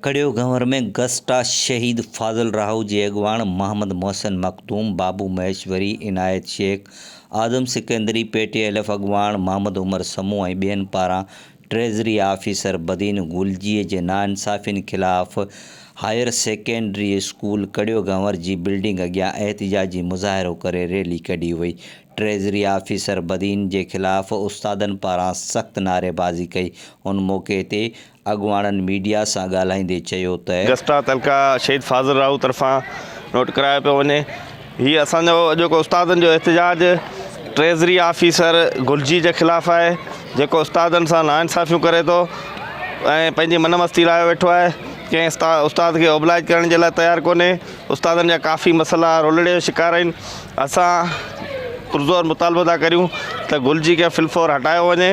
ڪڙيو گهنور ۾ گسٽا شهيد فاضل راهو جي اڳواڻ محمد محسن مخدوم، بابو مهيشوري، عنايت شيخ، آدم سڪندري، پي ٽي ايلف اڳواڻ محمد عمر سمون ۽ ٻين پاران ٽريزري آفيسر بدين گلجيء جي ناانصافين خلاف higher secondary school Kario Ghanwar جي بلڊنگ اڳيان احتجاجي مظاهرو ڪري ريلي ڪڍي وئي، ٽريزري آفيسر بدين جي خلاف استادن پاران سخت نعريبازي ڪئي، ان موقعي تي اڳواڻن ميڊيا سان ڳالهائيندي چيو ته. گسٽا تعلقه شهيد فاضل راهو طرفان نوٽ ڪرايو پيو وڃي. هي اسان جو اڄوڪو استادن جو احتجاج ٽريزري آفيسر گلجي جي خلاف آهي جيڪو استادن سان ناانصافيون ڪري ٿو ۽ پنهنجي من مستي لاء ويٺو آهي ڪنهن استاد کي اوبلائج ڪرڻ جي لاء تيار ڪونهي استادن جا ڪافي مسئلا رولڙي جو شڪار آهن اسان پرزور مطالبو ٿا ڪريون ته گلجي کي فلفور هٽايو وڃي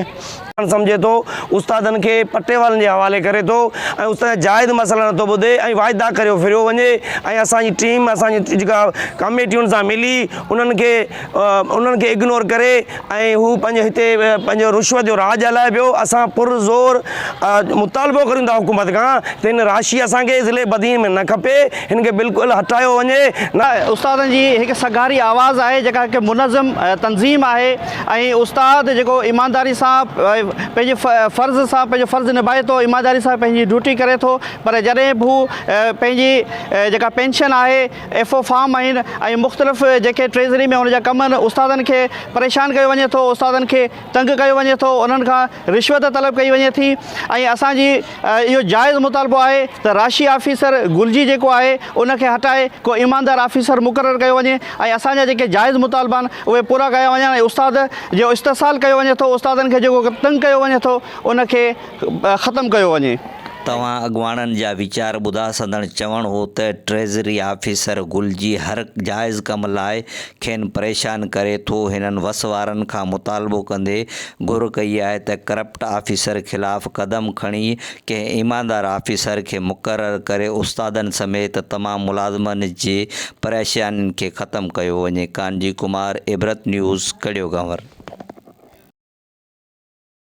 ڪرڻ سمجهي ٿو، استادن کي پٽيوالن جي حوالي ڪري ٿو ۽ استادن جا جائز مسئلا نٿو ٻڌي ۽ واعدا ڪريو ڦريو وڃي ۽ اسان جي ٽيم اسان جي جيڪا ڪاميٽين سان ملي انهن کي انهن کي اگنور ڪري ۽ هو پنهنجو هتي پنهنجو رشوت جو راڄ هلائي پيو اسان پر زور مطالبو ڪريون ٿا حڪومت کان ته هن راشي اسان کي ضلعي بدين ۾ نه کپي هن کي بلڪل هٽايو وڃي. استادن جي هڪ سگهاري آواز آهي جيڪا هڪ منظم تنظيم آهي ۽ استاد جيڪو ايمانداري سان پنهنجي فرض سان پنهنجو فرض نڀائي ٿو ايمانداري سان پنهنجي ڊيوٽي ڪري ٿو پر جڏهن به هو پنهنجي جيڪا پينشن آهي ايف او فارم آهن ۽ مختلف جيڪي ٽريزري ۾ هن جا ڪم آهن استادن کي پريشان ڪيو وڃي ٿو استادن کي تنگ ڪيو وڃي ٿو انهن کان رشوت طلب ڪئي وڃي ٿي ۽ اسان جي اهو جائز مطالبو آهي ته راشي آفيسر گلجي جيڪو آهي ان کي هٽائي ڪو ايماندار آفيسر مقرر ڪيو وڃي ۽ اسان جا جيڪي جائز مطالبا آهن اهي پورا ڪيا وڃن ۽ استاد جو استحصال ڪيو وڃي ٿو استادن کي جيڪو تنگ ڪيو وڃي ٿو ان کي ختم ڪيو وڃي. توهان اڳواڻن جا ويچار ٻڌا سندڻ چوڻ هو ته ٽريزري آفيسر گلجي هر جائز ڪم لاء کين پريشان ڪري ٿو، هنن وس وارن کان مطالبو ڪندي گهر ڪئي آهي ته ڪرپٽ آفيسر خلاف قدم کڻي ڪنهن ايماندار آفيسر کي مقرر ڪري استادن سميت تمام ملازمن جي پريشانين کي ختم ڪيو وڃي ڪانجي ڪمار عبرت نيوز ڪڙيو گهنور.